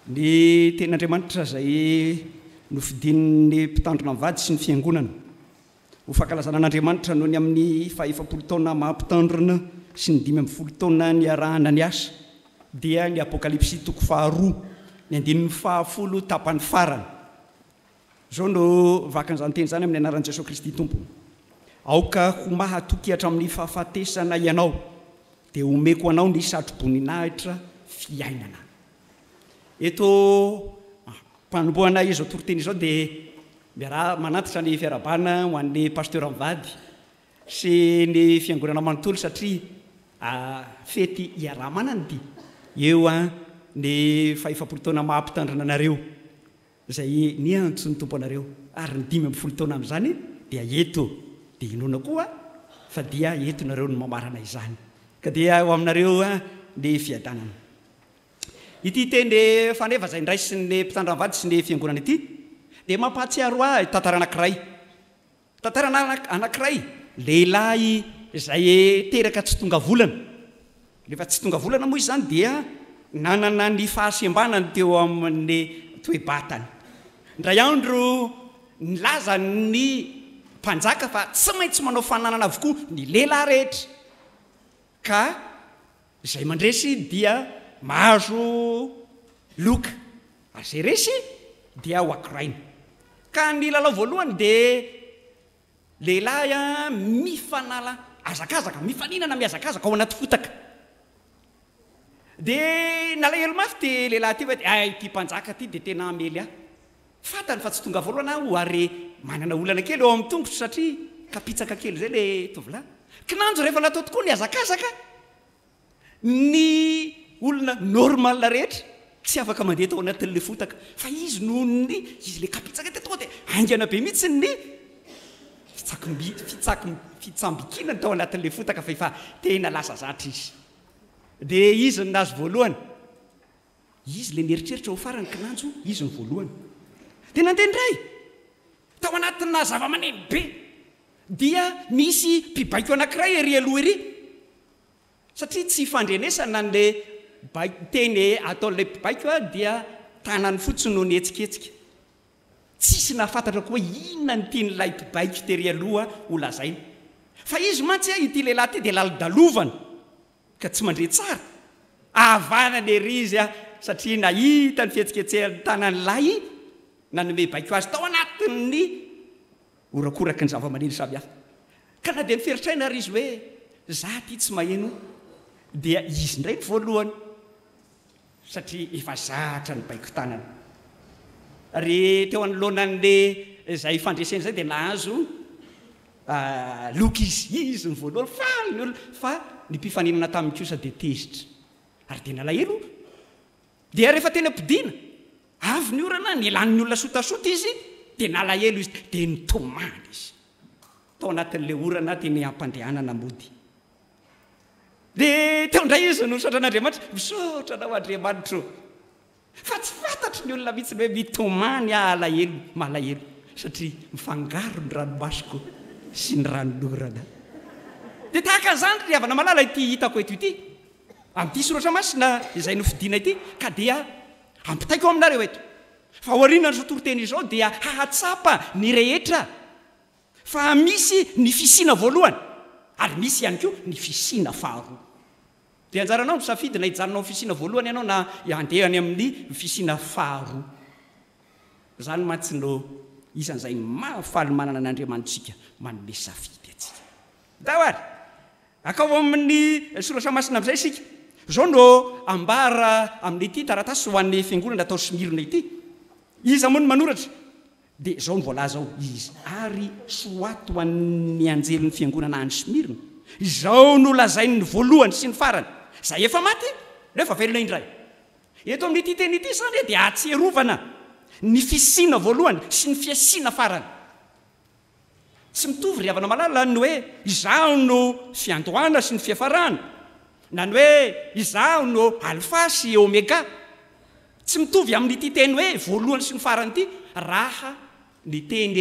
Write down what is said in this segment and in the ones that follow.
Ny Tenin'Andriamanitra izay nofidin'ny Mpitandrina mivady sy ny Fiangonana ho fankalazana an'Andriamanitra noho ny amin'ny fahaefapolo taona maha-Mpitandrina sy ny dimy ambin'ny folo taona niarahana niasa dia ny Apokalypsy toko faharoa, ny andininy fahafolo tapany farany. Izao no vakan'izany teny izany, Amin'ny anaran'i Jesoa Kristy Tompo, aoka ho mahatoky hatramin'ny fahafatesana ianao, dia omeko anao ny satroboninahitra fiainana. Eto mpanombohana izao toriteny izao dia miaraha manantitra ny fiarahabana ho an'ny pasteur mivady sy ny fiangonana manontolo satria fety iaraha-manana ity eo ny fahefapolo taona maha-mpitandrina anareo. izay niantso ny Tompo anareo, ary ny dimy amby folo taona amin'izany dia eto, dia inoana koa fa dia eto nareo no mamarana izany, ka dia ho aminareo ny fiadanana. Ity teny rehefa nefa izay niraisin'ny mpitandram-vady sy ny fiangonana ity dia mampahatsiaro ahy tantara anankiray, Tantarana anankiray, lehilahy izay teraka tsy tonga volana, rehefa tsy tonga volana moa izy izany dia nanana ny fahasembanany teo amin'ny toe-batany. Indray andro nilaza ny mpanjaka fa tsy maintsy manao fananana avokoa ny lehilahy rehetra. ka izay mandresy dia mahazo loka ary izay resy dia ho akoraina, ka ny lalao voalohany dia lehilahy mifanala hazakazaka, mifaninana mihazakazaka ao anaty fotaka, dia nalahelo mafy ity lehilahy ity fa dia hay ity mpanjaka ity dia tena hamely ahy. Fantany fa tsy tonga voalohany aho ary manana olana kely eo amin'ny tongotro satria kapitsaka kely izay ilay tovolahy. Kinanjo rehefa natao tokoa ny hazakazaka. Ny olona normal rehetra tsy afaka mandeha tao anatin'ilay fotaka fa izy noho ny izy ilay kapitsaka dia tonga dia haingana be mihitsy ny fitsambikinany tao anatin'ilay fotaka fa efa tena lasa zatra izy. Dia izy no nahazo voalohany. Izy ilay mieritreritra ho farany kinanjo izy no voalohany. Dia nandeha indray! Tao anatinà zavamaneno be dia nisy mpibaiko anankiray ery aloha ery satria tsy ifandrenesana an'ilay baiko, teny ataon'ilay mpibaiko dia tanany fotsiny no nihetsiketsika. Tsisy nahafantatra koa hoe inona no tian'ilay mpibaiko tery aloha ho lazaina. Fa izy mantsy, ity lehilahy ity dia lalodalovana. ka tsy mandre tsara, ahavanana ery izy an, satria nahita ny fihetsiketsehan'ny tanan'ny lahy nanome baiko azy tao anatin'ny horakoraky ny zava-maneno samihafa. Ka na dia niferitr'aina ary izy hoe, 'Za ity tsy maheno, dia izy indray ny voalohany. satria efa zatra ny baiko tanana ary teo anoloana an'le zay fandresena izay dia nahazo loka izy, izy ny voalohany faly ny olona fa ny mpifaninana taminy kosa dia tezitra ary dia nalahelo dia rehefa teny am-podiana avy ny orana nilan'ny olona sotasota izy dia nalahelo izy dia nitomany izy tao anatin'le orana teny am-pandehanana mody Dia teo indray izy no nisaotra an'Andriamanitra, Misaotra anao Andriamanitra ô, fa tsy fantatry ny olona mihitsy ny hoe mitomany aho alahelo, malahelo, satria mifangaro ny ranomasoko sy ny ranon'orana. Dia tahaka izany, ry havana malala, ity hitako eto ity, amin'ity soratra masina izay nofidina ity, ka dia ampitaiko aminareo eto, fa aorianan'izao toriteny izao dia hahatsapa ny rehetra, Fa misy ny fisiana voalohany ary misy ihany koa ny fisiana faharoa. Dia anjaranao ny misafidy na hijanona ao amin'ny fisiana voalohany ianao na handeha any amin'ny fisiana faharoa. Izany mantsy no isan'izay mahafaly manana an' Andriamanitsika manome safidy antsika. Ndao ary akao amin'ny Soratra Masina amin'izay isika. Izao no ambara amin'ity taratasy ho an'ny fiangonana tao Smyrne ity, Iza moa no manoratra? Dia izao no voalaza ao, Izy ary soaty ho an'ny anjelin'ny fiangonana any Smyrna, Izao no lazain'ny voalohany sy ny farany, izay efa maty nefa velona indray. Eto amin'ity teny ity izany dia ahatsiarovana ny fisiana voalohany sy ny fiasiana farany. Tsy mitovy ry havana malala ny hoe izaho no fiandohana sy ny fiafarana na ny hoe izaho no alfa sy omega. Tsy mitovy amin'ity teny hoe voalohany sy ny farany ity raha ny teny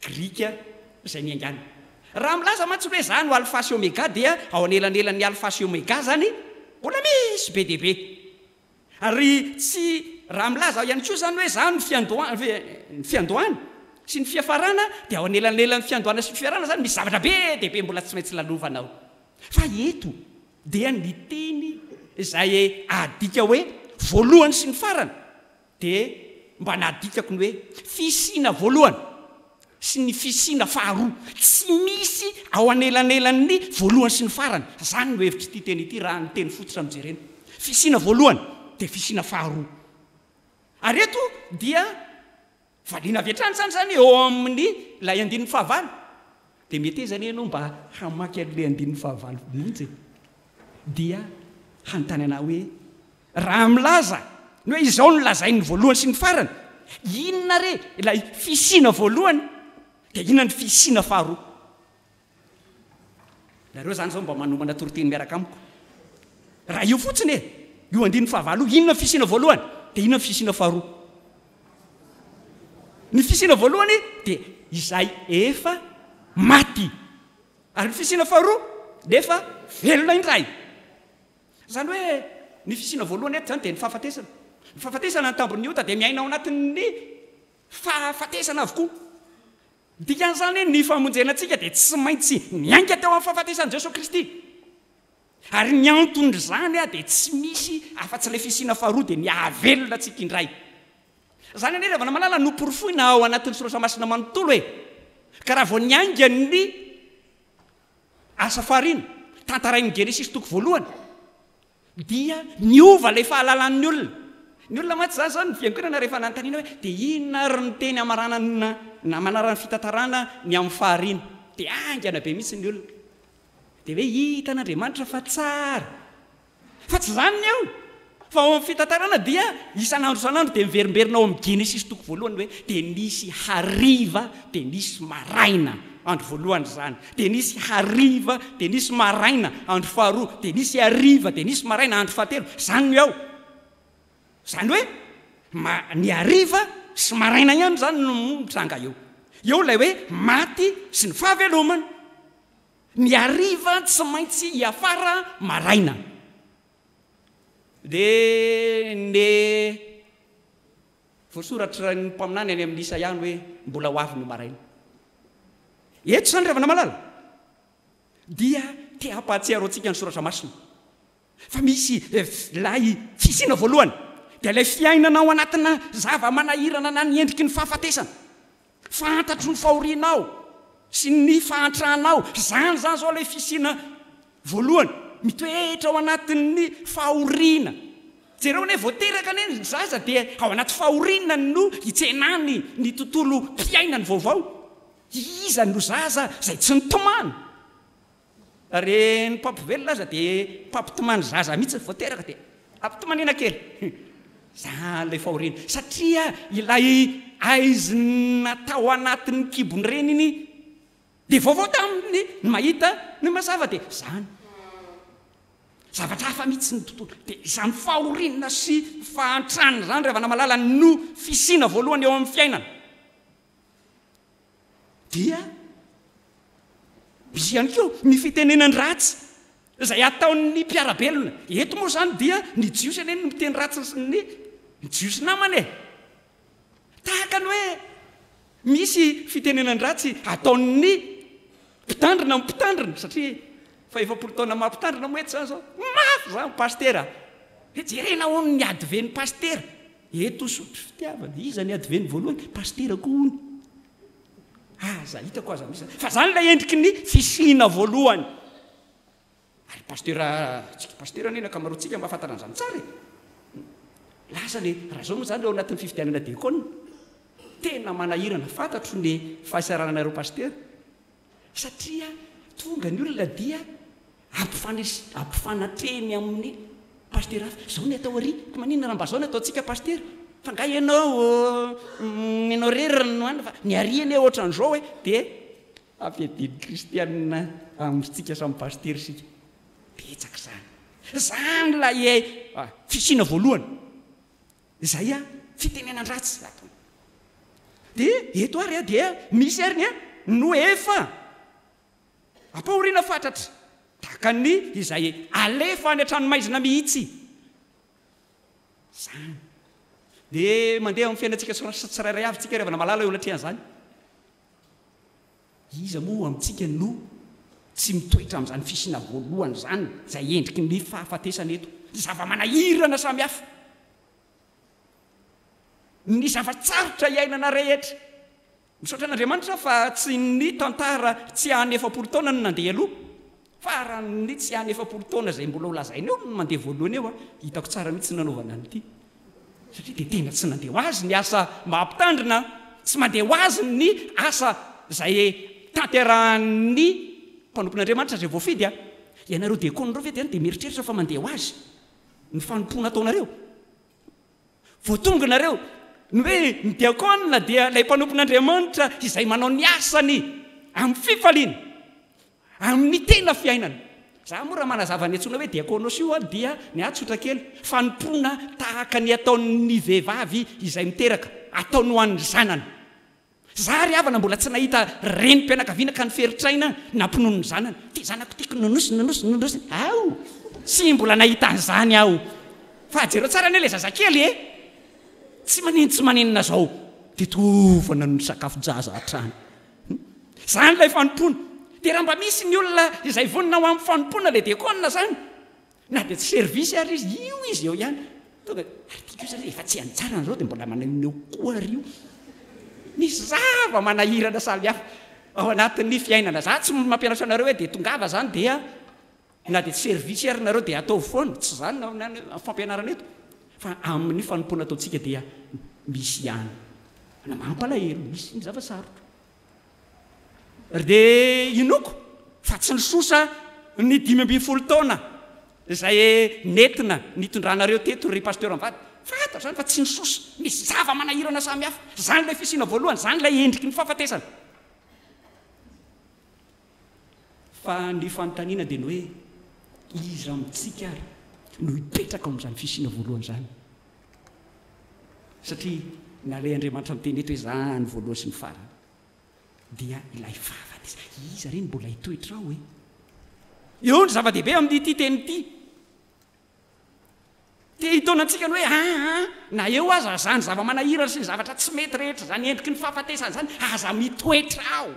grika izay niaingàna. Raha milaza mantsy ny hoe izaho no alfa sy omega dia ao anelanelan'ny alfa sy omega izany mbola misy be dia be. Ary tsy raha milaza aho ihany koa izany hoe izany no fiandohan ny fiandohana sy ny fiafarana dia ao anelanelan'ny fiandohana sy fiafarana izany misy zavatra be dia be mbola tsy maintsy lalovana ao fa eto dia ny teny izay adika hoe voalohany sy ny farany dia mba nadikako ny hoe fisiana voalohany sy ny fisiana faharoa tsy misy ao anelanelan'ny voalohany sy ny farany, izany no hevitr'ity teny ity raha ny teny fototra no jerena. Fisiana voalohany dia fisiana faharoa. Ary eto dia valiana avy hatrany izany izany eo amin'ilay andininy fahavalo. Dia metezana ianao mba hamaky an'ilay andininy fahavalo mihitsy e! dia hanontany anao hoe, Raha milaza ny hoe izao no lazain'ny voalohany sy ny farany, inona re ilay fisiana voalohany, dia inona ny fisiana faharoa? Nareo izany izao mba manomana toriteny miaraka amiko. Raha io fotsiny e, io andininy fahavalo io, inona ny fisiana voalohany, dia inona ny fisiana faharoa? Ny fisiana voalohany dia izay efa maty. Ary ny fisiana faharoa nefa velona indray. Izany hoe ny fisiana voalohany eto izany dia ny fahafatesana. Ny fahafatesana ny tambin'ny ota dia miaina ao anatin'ny fahafatesana avokoa. Ny dikan'izany ny famonjena antsika dia tsy maintsy niainga teo amin'ny fahafatesan'i Jesoa Kristy. Ary ny anton'izany dia tsy misy afa-tsy ilay fisiana faharoa dia ny hahavelona antsika indray. Izany anie ry havana malala no porofoina ao anatin'ny soratra masina manontolo e! Ka raha vao niainga ny asa fahariana tantarain'ny Genesisy toko voalohany dia niova ilay fahalalan'ny olona. Ny olona mantsy izany izao ny fiangonana rehefa nanontaniana hoe dia inona ary ny teny hamaranana na manarana ny fitantarana ny amin'ny fahariana dia haingana be mihitsy ny olona. Dia hoe hitan'Andriamanitra fa tsara. Fa tsy izany ny eo! Fa ao amin'ny fitantarana dia isan'andro isan'andro dia miverimberina ao amin'ny Genesisy toko voalohany hoe dia nisy hariva dia nisy maraina andro voalohany izany, dia nisy hariva dia nisy maraina andro faharoa, dia nisy hariva dia nisy maraina andro fahatelo. Izany no eo! Izany hoe ma, ny hariva sy maraina ihany izany no mitranga eo. Eo ilay hoe maty sy ny fahavelomana. Ny hariva tsy maintsy hiafara maraina. Dia ne voasoratra ny mpaminany any amin'ny Isaia ny hoe mbola ho avy ny maraina. Eto izany ry havana malala dia te hampahatsiaro antsika ny soratra masina Fa misy Ilay fisiana voalohany, dia ilay fiainana ao anatinà zava-manahirana na ny endriky ny fahafatesana. Fantatro ny fahorianao sy ny fahantranao. Izany izany izao ilay fisiana voalohany, mitoetra ao anatin'ny fahoriana. Jereo anie, vao teraka anie ny zaza dia ao anaty fahoriana no itsenany ny tontolom-piainany vaovao. Iza no zaza izay tsy nitomany? Ary ny mpampivelona aza dia mpampitomany zaza mihitsy vao teraka dia ampitomaniana kely izany ilay fahoriana satria ilay aizina tao anatin'ny kibon'ny reniny dia vaovao taminy ny mahita ny mazava dia izany zavatra hafa mihitsy ny tontolo dia izany fahoriana sy fahantrana izany ry havana malala no fisiana voalohany eo amin'ny fiainana. Dia misy ihany koa ny fitenenan-dratsy izay ataon'ny mpiara-belona. Eto moa izany dia ny Jiosy anie no miteny ratsy ny Jiosy namany e! Tahaka ny hoe misy fitenenan-dratsy ataon'ny mpitandrina amin'ny mpitandrina, satria fa efapolo taona maha mpitandrina moa eto izany izao. Mafy izany Pasitera! Hoe jerena hono ny adiven'ny Pasitera! Eto sotry fitiavana. Iza ny adiveny voalohany? Pasitera koa hono. Aza, hitako aza misy. Fa zany ilay endriky ny fisiana voalohany. Ary pasitera, tsika pasitera anie ny ankamaroantsika mahafantatra an'izany tsara e. Lasa le, raha zao moa zany eo anatin'ny fifidianana diakona. Tena manahirana, fantatro ny fahasararanareo pasitera. satria tonga ny olona dia ampifanatrehiny amin'ny pasitera hafa, izao ny atao ary ka maninona raha mba izao no ataontsika pasitera, fa nga ianao ianao rery no anona fa ny ary anie otran'izao e, dia ampiadiany kristianina amintsika samy pasitera isika, betsaka izany, izany ilay fisiana voalohany. Izay a, fitenenan-dratsy ato. Dia eto ary a, dia misy ary ny a, no efa ampahoriana fatratra, tahaka ny izay alefa any an-tranomaizina mihitsy izany. Dia mandeha amin'ny fiainantsika tsirairay avy isika ry havana malala eo anatrehan'izany. Iza moa amintsika no tsy mitoetra amin'izany fisiana voalohany izany, izay endriky ny fahafatesana eto? Ny zava-manahirana samihafa, ny zava-tsarotra iainana rehetra. Misaotra an'Andriamanitra fa tsy ny tantara tsy an'ny efapolo taona no nandeha aloha, Faran'ny tsy any efapolo taona izay mbola ho lazaina eo no mandeha voalohany eo a! Hitako tsara mihitsy ny nanaovana an'ity satria dia tena tsy nandeha ho azy ny asa maha mpitandrina a! Tsy mandeha ho azy ny asa izay tanterahan'ny mpanompon'Andriamanitra izay voafidy a! Ianareo diakona ireo ve dia any dia mieritreritra fa mandeha ho azy ny fanompoana ataonareo? Vao tonga nareo no hoe ny diakona dia ilay mpanompon'Andriamanitra izay manao ny asany amin'ny fifaliana, amin'ny tena fiainana. Za moa raha manazava ny antsoina hoe diakonos io aho dia ny ahy tsotra kely, fanompoana tahaka ny ataon'ny vehivavy izay miteraka, ataony ho an'ny zanany. Za ry havana mbola tsy nahita renim-pianakaviana ka niferitr'aina nampinono ny zanany. Ty zanako tiako nonosiny nonosiny nonosiny aho. Tsy mbola nahita an'izany aho. Fa jereo tsara anie ilay zazakely e! Tsy manin tsy maninona izao dia toa efa nanono sakafo-jaza hatrany. Izany ilay fanompoana. Dia raha mba misy ny olona izay vonona ho amin'ny fanompoana le diakona izany. Na dia tsy service ary izy, io izy eo ihany. Tonga dia, ary tiako io izany rehefa tsy any tsara anareo dia mbola maneho ny eo koa ary io. Misy zava-manahirana samy hafa ao anatin'ny fiainana. Za tsy mampianatra anareo hoe dia tongava izany dia na dia tsy service ary nareo dia ataovy foana. Tsy izany ny fampianarana eto. Fa amin'ny fanompoana ataontsika dia misy ihany. Manko alahelo, misy ny zava-sarotra. dia inoako fa tsy nisosa ny dimy ambin'ny folo taona izay nentina nitondranareo teto ry Pasteur Ambady. Fantatra izany fa tsy nisosa. Misy zava-manahirana samihafa. Izany ilay fisiana voalohany, izany ilay endriky ny fahafatesana. Fa ny fanontaniana dia ny hoe, iza amintsika ary no hipetraka ao amin'izany fisiana voalohany izany? Satria nalay Andriamanitra niteny eto hoe izany voalohany sy ny farany dia ilay vavany izany. Iza re no mbola hitoetra ao e? Eo ny zava-dehibe amin'ity teny ity. Te hitaona antsika ny hoe, aa, na eo aza izany zava-manahirana sy ny zavatra tsy mety rehetra izany endriky ny fahafatesana izany, aza mitoetra ao.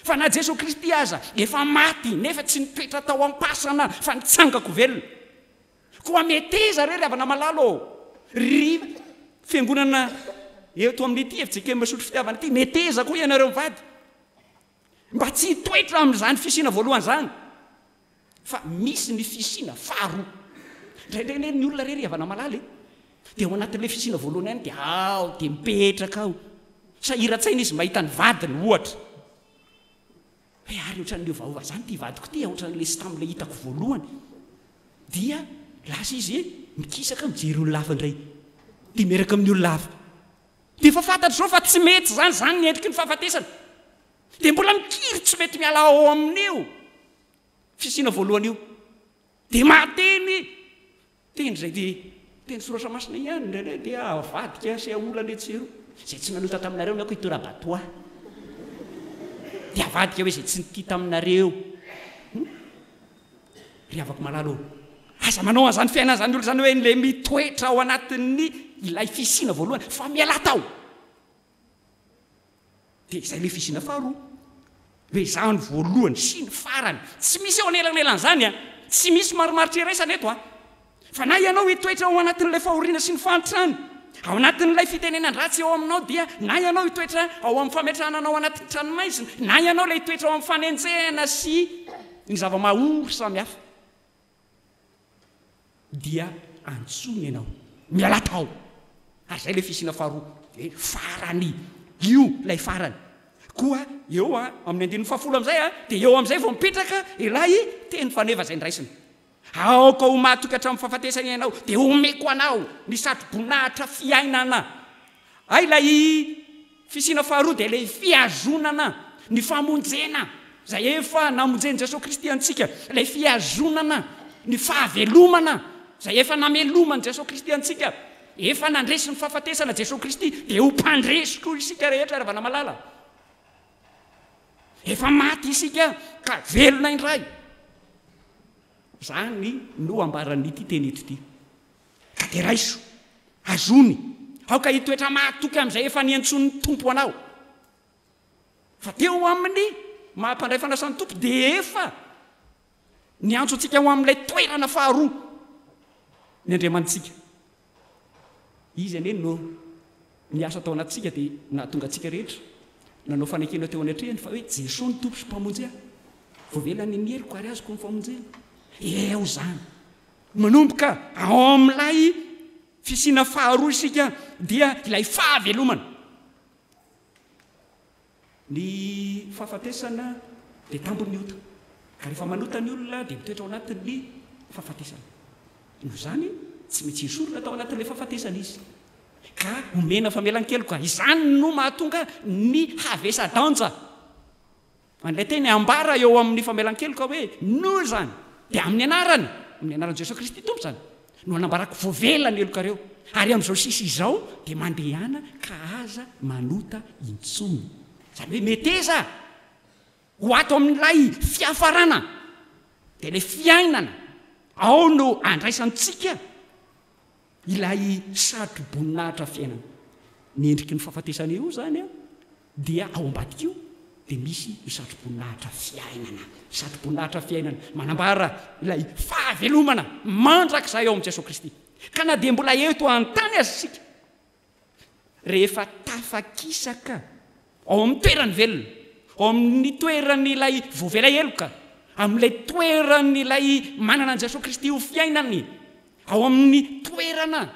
Fa na Jesoa Kristy aza efa maty nefa tsy nipetra tao am-pasana fa nitsangako velona. Koa meteza re ry havana malalo ô! Ry fiangonana eto amin'ity FJKM Misotro Fitiavana ity, meteza koa ianareo mivady mba tsy hitoetra amin'izany fisiana voalohany izany. Fa misy ny fisiana faharoa. Indraindray anie ny olona re ry havana malala e, dia ao anatin'ilay fisiana voalohany ihany dia ao dia mipetraka ao. Sahiran-tsaina izy mahita ny vadiny ohatra. Hoe ary ohatran'ny miovaova izany ity vadiko ity, ohatran'ilay tsy tamin'ilay hitako voalohany. Dia lasa izy mikisaka mijery olona hafa indray. Dia miaraka amin'ny olona hafa. Dia efa fantatry izao fa tsy mety izany, izany ny endriky ny fahafatesana. Dia mbola mikiry tsy mety miala ao amin'io. fisiana voalohany io dia mahateny teny izay dia teny soratra masina ihany indraindray dia avadika sy aola ny etsy sy eroa izay tsy nanota taminareo ny ako itorabatoa dia avadika hoe izay tsy nitia taminareo hmm? ry havako malalo aza manao an'izany fiainana izany olo izany hoe le mitoetra ao anatin'ny ilay fisiana voalohany fa miala tao Dia izay le fisiana faharoa. Dia izaho ny voalohany sy ny farany. Tsy misy eo anelanelan'izany an! Tsy misy marimaritra iraisana eto an! Fa na ianao hitoetra ao anatin'ilay fahoriana sy ny fahantrana, ao anatin'ilay fitenenan-dratsy eo aminao dia, na ianao hitoetra ao amin'ny fametrahana anao anatin'ny tranomaizina, na ianao ilay hitoetra ao amin'ny fanenjehana sy ny zava-mahaory samihafa. dia antsoiny ianao miala tao ary zay le fisiana faharoa de farany io lay farany koa eo a amin'ny andininy fahafolo amizay a de eo amizay vao mipetraka ilay teny faneva zay ndraisina aoka ho matoky hatramin'ny fahafatesana ianao de omeko anao ny satroboninahitra fiainana ay lay Fisiana faharoa dia ilay fihazonana ny famonjena izay efa namonjen'i Jesoa Kristy antsika, ilay fihazonana ny fahavelomana izay efa nameloman'i Jesoa Kristy antsika, efa nandresy ny fahafatesana Jesoa Kristy dia ho mpandresy koa isika rehetra ravana malala. Efa maty isika ka velona indray. Izany no ambaran'ity teny eto ity. Ka dia raiso, azony, aoka hitoetra mahatoky amin'izay efa niantsoan'ny Tompo anao. Fa teo ho amin'ny maha mpandray fanasan'ny Tompo dia efa niantso antsika ho amin'ilay toerana faharoa ny Andriamanitsika. Izy anie no niasa tao anatintsika dia nahatonga antsika rehetra nanao fanekena teo anatrehany fa hoe Jesoa no Tompo sy Mpamonjy ahy. Voavelany ny heriko ary azoko ny famonjena. Eo izany. Manomboka ao amin'ilay fisiana faharoa isika dia ilay fahavelomana. Ny fahafatesana dia tambin'ny ota, ka rehefa manota ny olona dia mitoetra ao anatin'ny fahafatesana. Noho izany, tsy maintsy esorina tao anatin'ilay fahafatesana izy, ka omena famelan-keloka. Izany no mahatonga ny havesa-danja. Ilay teny ambara eo amin'ny famelan-keloka hoe Noa izany dia amin'ny anarany, amin'ny anaran'i Jesoa Kristy Tompo izany, no anambarako voavela ny helokareo, ary amin'izao sisa izao dia mandehana ka aza manota intsony. Izany hoe meteza ho ato amin'ilay fiafarana, dia ilay fiainana ao no andraisantsika. Ilay satroboninahitra fiainana. Ny endriky ny fahafatesana eo izany dia ao ambadik'io dia misy ny satroboninahitra fiainana. Satroboninahitra fiainana manambara ilay fahavelomana mandrakizay ao amin'i Jesoa Kristy. Ka na dia mbola eto an-tany aza isika, rehefa tafakisaka ao amin'ny toerany velona, ao amin'ny toeran'ilay voavela heloka, amin'ilay toeran'ilay manana an'i Jesoa Kristy ho fiainany, ao amin'ny toerana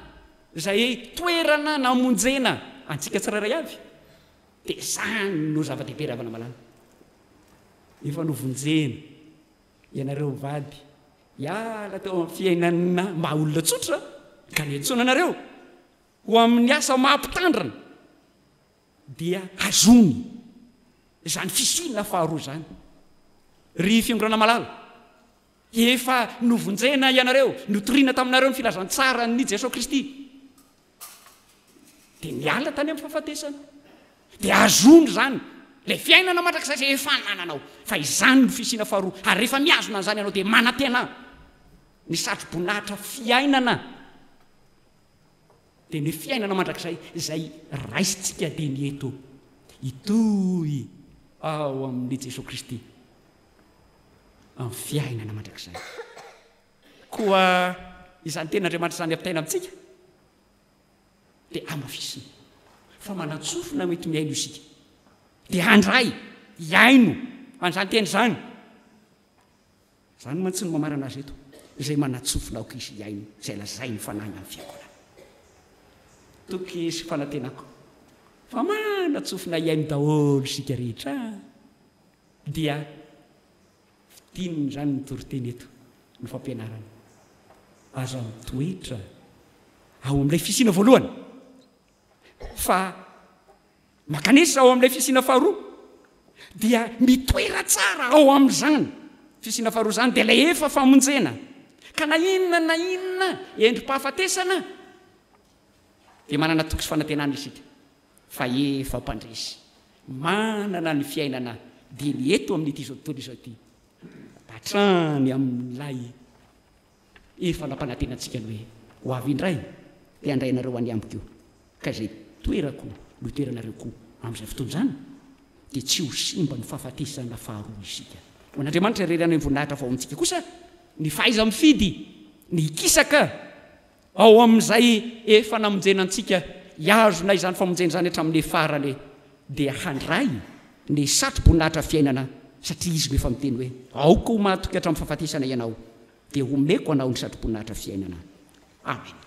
izay toerana namonjena antsika tsirairay avy, dia izany no zava-dehibe ry havana malala. Efa novonjena ianareo mivady hiala teo amin'ny fiainana maha olona tsotra ka niantsoana anareo ho amin'ny asa maha-mpitandrina, dia azony izany fisiana faharoa izany. Ry Fiangonana malala, efa novonjena ianareo, notoriana taminareo ny filazantsaran'i Jesoa Kristy, dia niala tany amin'ny fahafatesana, dia azony izany ilay fiainana mandrakizay izay efa anananao, fa izany no fisiana faharoa, ary rehefa mihazona an'izany ianao dia manantena ny satroboninahitra fiainana dia ny fiainana mandrakizay izay raisintsika dia ny eto hitohy ao amin'i Jesoa Kristy amin'ny fiainana mandrakizay. Koa izany tenin'Andriamanitra izany ampitaina amintsika dia amafisina fa manan-tsofina mety mihaino isika. Dia handray hihaino an'izany teny izany. Izany mantsy no mamarana azy eto, izay manatsofina aoka izy hihaino izay lazain'ny Fanahy na ny Fiangonana. Toky sy fanantenako fa manatsofina hihaino daholo isika rehetra dia fidinina izany ny toriteny eto, ny fampianarana. Aza mitoetra ao amin'ilay fisiana voalohany. fa mankanesa ao amin'ilay fisiana faharoa dia mitoera tsara ao amin'izany fisiana faharoa izany dia ilay efa famonjena ka na inona na inona endri-pahafatesana dia manana toky sy fanantenana isika fa efa mpandresy manana ny fiainana dia ny eto amin'ity izao tontolo izao ity hatrany amin'ilay Efa nampanantena antsika ny hoe ho avy indray dia handray anareo any amiko eo, ka izay toerako no hitoeranareo koa amin'izay fotoana izany dia tsy ho simba ny fahafatesana faharoa isika. Ho an'Andriamanitra irery any ambony lahitra faovintsika kosa ny fahaiza-mifidy ny hikisaka Ao amin'izay efa namonjena antsika, hihazona izany famonjena izany hatramin'ny farany, dia handray ny satroboninahitra fiainana, satria Izy no efa miteny hoe, Aoka ho matoky hatramin'ny fahafatesana ianao, dia homeko anao ny satroboninahitra fiainana. Amena.